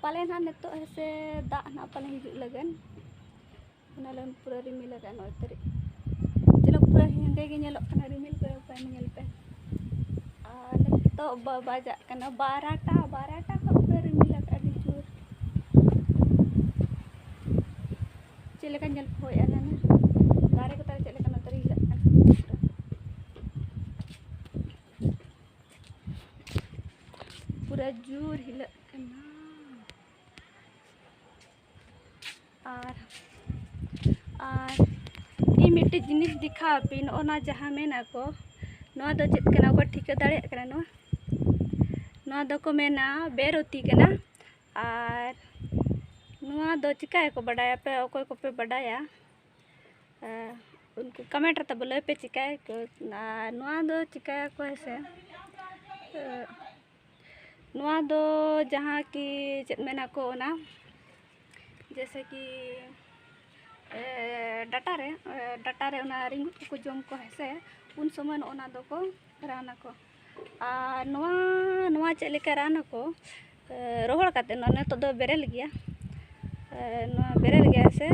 ᱯᱟᱞᱮ ᱱᱟᱦᱟᱜ ᱱᱤᱛᱚᱜ ᱦᱮᱸᱥᱮ ᱫᱟᱜ ᱱᱟᱦᱟᱜ ᱯᱟᱞᱮ ᱦᱤᱡᱩᱜ ᱞᱟᱹᱜᱤᱫ ᱚᱱᱟ ᱞᱟᱹᱜᱤᱫ ᱯᱩᱨᱟᱹ ᱨᱤᱢᱤᱞ ᱟᱠᱟᱫ ᱱᱚᱜᱼᱚᱭ ᱛᱟᱹᱨᱤᱡ ᱪᱮᱫ ᱯᱩᱨᱟᱹ ᱦᱮᱸᱫᱮ ᱜᱮ ᱧᱮᱞᱚᱜ ᱠᱟᱱᱟ ᱨᱤᱢᱤᱞ ᱠᱚ ᱯᱟᱭ ᱧᱮᱞ ᱯᱮ ᱟᱨ ᱱᱤᱛᱚᱜ ᱵᱟᱡᱟᱜ ᱠᱟᱱᱟ ᱵᱟᱨᱟᱴᱟ ᱵᱟᱨᱟᱴᱟ ᱠᱷᱚᱱ ᱯᱩᱨᱟᱹ ᱨᱤᱢᱤᱞ ᱟᱠᱟᱫ ᱟᱹᱰᱤ ᱡᱳᱨ ᱪᱮᱫ ᱞᱮᱠᱟ ᱧᱮᱞ ᱯᱮ ᱦᱳᱭ ᱟᱞᱮ ᱫᱟᱨᱮ ᱠᱚ ᱛᱟᱞᱮ ᱪᱮᱫ ᱞᱮᱠᱟ ᱱᱚᱛᱮ ᱨᱮ ᱦᱤᱞᱟᱹᱜ ᱠᱟᱱᱟ ᱯᱩᱨᱟᱹ ᱡᱳᱨ ᱦᱤᱞᱟᱹᱜ ᱠᱟᱱᱟ ᱟᱨ ᱟᱨ ᱤᱧ ᱢᱤᱫᱴᱮᱡ ᱡᱤᱱᱤᱥ ᱫᱮᱠᱷᱟᱣ ᱟᱯᱮ ᱱᱚᱜᱼᱚ ᱱᱟ ᱡᱟᱦᱟᱸ ᱢᱮᱱ ᱟᱠᱚ ᱱᱚᱣᱟ ᱫᱚ ᱪᱮᱫ ᱠᱟᱱᱟ ᱚᱠᱚᱭ ᱴᱷᱤᱠᱟᱹ ᱫᱟᱲᱮᱭᱟᱜ ᱠᱟᱱᱟ ᱱᱚᱣᱟ ᱱᱚᱣᱟ ᱫᱚᱠᱚ ᱢᱮᱱᱟ ᱵᱮᱨᱚᱛᱤ ᱠᱟᱱᱟ ᱟᱨ ᱱᱚᱣᱟ ᱫᱚ ᱪᱤᱠᱟᱹᱭᱟᱠᱚ ᱵᱟᱰᱟᱭᱟᱯᱮ ᱚᱠᱚᱭ ᱠᱚᱯᱮ ᱵᱟᱰᱟᱭᱟ ᱩᱱᱠᱩ ᱠᱟᱢᱮᱱᱴ ᱨᱮ ᱛᱟᱵᱚ ᱞᱟᱹᱭ ᱯᱮ ᱪᱤᱠᱟᱹᱭᱟᱠᱚ ᱟᱨ ᱱᱚᱣᱟ ᱫᱚ ᱪᱤᱠᱟᱹᱭᱟᱠᱚ ᱦᱮᱸ ᱥᱮ ᱱᱚᱣᱟ ᱫᱚ ᱡᱟᱦᱟᱸ ᱠᱤ ᱪᱮᱫ ᱢᱮᱱᱟᱠᱚ ᱚᱱᱟ ᱡᱮᱭᱥᱮ ᱠᱤ ᱰᱟᱴᱟ ᱨᱮ ᱰᱟᱴᱟ ᱨᱮ ᱚᱱᱟ ᱨᱤᱝᱜᱩᱫ ᱠᱚᱠᱚ ᱡᱚᱢ ᱠᱚᱣᱟ ᱦᱮᱸ ᱥᱮ ᱩᱱ ᱥᱚᱢᱚᱭ ᱱᱚᱜᱼᱚ ᱱᱟ ᱫᱚᱠᱚ ᱨᱟᱱ ᱟᱠᱚ ᱟᱨ ᱱᱚᱣᱟ ᱱᱚᱣᱟ ᱪᱮᱫ ᱞᱮᱠᱟ ᱨᱟᱱ ᱟᱠᱚ ᱨᱚᱦᱚᱲ ᱠᱟᱛᱮᱫ ᱱᱚᱣᱟ ᱱᱤᱛᱚᱜ ᱫᱚ ᱵᱮᱨᱮᱞ ᱜᱮᱭᱟ ᱱᱚᱣᱟ ᱵᱮᱨᱮᱞ ᱜᱮᱭᱟ ᱥᱮ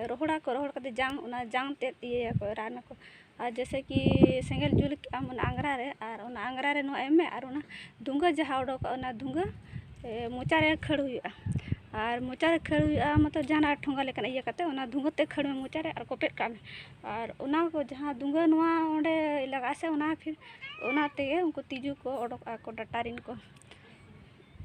ᱨᱚᱦᱚᱲᱟᱠᱚ ᱨᱚᱦᱚᱲ ᱠᱟᱛᱮᱫ ᱡᱟᱝ ᱚᱱᱟ ᱡᱟᱝ ᱛᱮᱫ ᱤᱭᱟᱹᱭᱟᱠᱚ ᱨᱟᱱ ᱟᱠᱚ ᱟᱨ ᱡᱮᱭᱥᱮ ᱠᱤ ᱥᱮᱸᱜᱮᱞ ᱡᱩᱞ ᱠᱮᱫ ᱟᱢ ᱚᱱᱟ ᱟᱝᱜᱽᱨᱟ ᱨᱮ ᱟᱨ ᱚᱱᱟ ᱟᱝᱜᱽᱨᱟ ᱨᱮ ᱱᱚᱣᱟ ᱮᱢ ᱢᱮ ᱟᱨ ᱚᱱᱟ ᱫᱷᱩᱝᱜᱟᱹ ᱡᱟᱦᱟᱸ ᱚᱰᱚᱠᱚᱜᱼᱟ ᱚᱱᱟ ᱫᱷᱩᱝᱜᱟᱹ ᱢᱚᱪᱟ ᱨᱮ ᱠᱷᱟᱹᱲ ᱦᱩᱭᱩᱜᱼᱟ ᱟᱨ ᱢᱚᱪᱟ ᱨᱮ ᱠᱷᱟᱹᱲ ᱦᱩᱭᱩᱜᱼᱟ ᱢᱚᱛᱞᱚᱵ ᱡᱟᱦᱟᱱᱟᱜ ᱴᱷᱚᱸᱜᱟ ᱞᱮᱠᱟᱱᱟᱜ ᱤᱭᱟᱹ ᱠᱟᱛᱮᱫ ᱚᱱᱟ ᱫᱷᱩᱝᱜᱟᱹ ᱛᱮᱫ ᱠᱷᱟᱹᱲ ᱢᱮ ᱢᱚᱪᱟ ᱨᱮ ᱟᱨ ᱠᱚᱴᱮᱡ ᱠᱟᱜ ᱢᱮ ᱟᱨ ᱚᱱᱟ ᱠᱚ ᱡᱟᱦᱟᱸ ᱫᱩᱸᱜᱟᱹ ᱱᱚᱣᱟ ᱚᱸᱰᱮ ᱞᱟᱜᱟᱜ ᱟᱥᱮ ᱚᱱᱟ ᱯᱷᱤᱨ ᱚᱱᱟ ᱛᱮᱜᱮ ᱩᱱᱠᱩ ᱛᱤᱡᱩ ᱠᱚ ᱚᱰᱚᱠ ᱟᱠᱚ ᱰᱟᱴᱟ ᱨᱮᱱ ᱠᱚ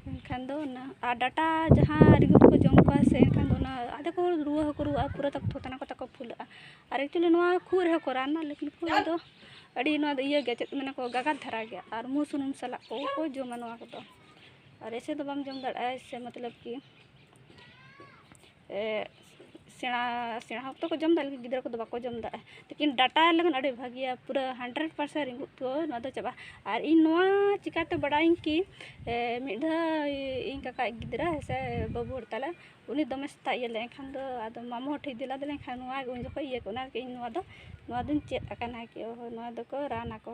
ᱮᱱᱠᱷᱟᱱ ᱫᱚ ᱚᱱᱟ ᱟᱨ ᱰᱟᱴᱟ ᱡᱟᱦᱟᱸ ᱨᱮᱸᱜᱮᱡ ᱠᱚ ᱡᱚᱢ ᱠᱚᱣᱟ ᱥᱮ ᱮᱱᱠᱷᱟᱱ ᱫᱚ ᱚᱱᱟ ᱟᱫᱚ ᱠᱚ ᱨᱩᱣᱟᱹ ᱦᱚᱸᱠᱚ ᱨᱩᱣᱟᱹᱜᱼᱟ ᱯᱩᱨᱟᱹ ᱛᱟᱠᱚ ᱛᱷᱚᱛᱟᱱᱟ ᱠᱚ ᱛᱟᱠᱚ ᱯᱷᱩᱞᱟᱹᱜᱼᱟ ᱟᱨ ᱮᱠᱪᱩᱞᱤ ᱱᱚᱣᱟ ᱠᱷᱩᱜ ᱨᱮᱦᱚᱸ ᱠᱚ ᱨᱟᱱᱟ ᱞᱮᱠᱤᱱ ᱠᱷᱩᱜ ᱨᱮᱫᱚ ᱟᱹᱰᱤ ᱱᱚᱣᱟ ᱫᱚ ᱤᱭᱟᱹ ᱜᱮᱭᱟ ᱪᱮᱫ ᱠᱚ ᱢᱮᱱᱟ ᱠᱚ ᱜᱟᱜᱟᱛ ᱫᱷᱟᱨᱟ ᱜᱮᱭᱟ ᱟᱨ ᱢᱩ ᱥᱩᱱᱩᱢ ᱥᱟᱞᱟᱜ ᱠᱚ ᱠᱚ ᱡᱚᱢᱟ ᱱᱚᱣᱟ ᱠᱚᱫᱚ ᱟᱨ ᱮᱭᱥᱮ ᱫᱚ ᱵᱟᱢ ᱡᱚᱢ ᱫᱟᱲᱮᱭᱟᱜᱼᱟ ᱮᱭᱥᱮ ᱢᱚᱛᱞᱚᱵ ᱠᱤ ᱥᱮᱬᱟ ᱥᱮᱬᱟ ᱦᱚᱲ ᱫᱚᱠᱚ ᱡᱚᱢᱫᱟ ᱞᱮᱠᱤᱱ ᱜᱤᱫᱽᱨᱟᱹ ᱠᱚᱫᱚ ᱵᱟᱠᱚ ᱡᱚᱢᱫᱟ ᱞᱮᱠᱤᱱ ᱰᱟᱴᱟ ᱞᱟᱹᱜᱤᱫ ᱟᱹᱰᱤ ᱵᱷᱟᱹᱜᱤᱭᱟ ᱯᱩᱨᱟᱹ ᱦᱟᱱᱰᱨᱮᱰ ᱯᱟᱨᱥᱮᱱ ᱨᱤᱸᱜᱩᱫ ᱠᱚ ᱱᱚᱣᱟ ᱫᱚ ᱪᱟᱵᱟᱜᱼᱟ ᱟᱨ ᱤᱧ ᱱᱚᱣᱟ ᱪᱤᱠᱟᱹᱛᱮ ᱵᱟᱰᱟᱭᱟᱹᱧ ᱠᱤ ᱢᱤᱫ ᱫᱷᱟᱣ ᱤᱧ ᱠᱟᱠᱟ ᱤᱡ ᱜᱤᱫᱽᱨᱟᱹ ᱦᱮᱸᱥᱮ ᱵᱟᱹᱵᱩ ᱦᱚᱲ ᱛᱟᱞᱮ ᱩᱱᱤ ᱫᱚᱢᱮ ᱥᱮᱛᱟᱜ ᱤᱭᱟᱹ ᱞᱮᱫᱟᱭ ᱮᱱᱠᱷᱟᱱ ᱫᱚ ᱟᱫᱚ ᱢᱟᱢᱚ ᱦᱚᱲ ᱴᱷᱮᱱ ᱤᱫᱤ ᱞᱮᱫᱮ ᱮᱱᱠᱷᱟᱱ ᱱᱚᱣᱟ ᱩᱱ ᱡᱚᱠᱷᱚᱱ ᱤᱭᱟᱹ ᱠᱚᱜᱼᱟ ᱚᱱᱟ ᱞᱟᱹᱜᱤᱫ ᱤᱧ ᱱᱚᱣᱟ ᱫᱚ ᱱᱚᱣᱟ ᱫᱚᱧ ᱪᱮᱫ ᱟᱠᱟᱱᱟ ᱠᱤ ᱚᱦᱚ ᱱᱚᱣᱟ ᱫᱚᱠᱚ ᱨᱟᱱ ᱟᱠᱚ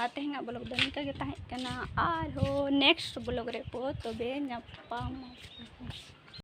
ᱟᱨ ᱛᱮᱦᱮᱧᱟᱜ ᱵᱞᱚᱜᱽ ᱫᱚ ᱱᱤᱝᱠᱟᱹ ᱜᱮ ᱛᱟᱦᱮᱸ ᱠᱟᱱᱟ ᱟᱨᱦᱚᱸ ᱱᱮᱠᱥᱴ ᱵᱞᱚᱜᱽ ᱨᱮ ᱛᱚᱵᱮ ᱧᱟᱯᱟᱢ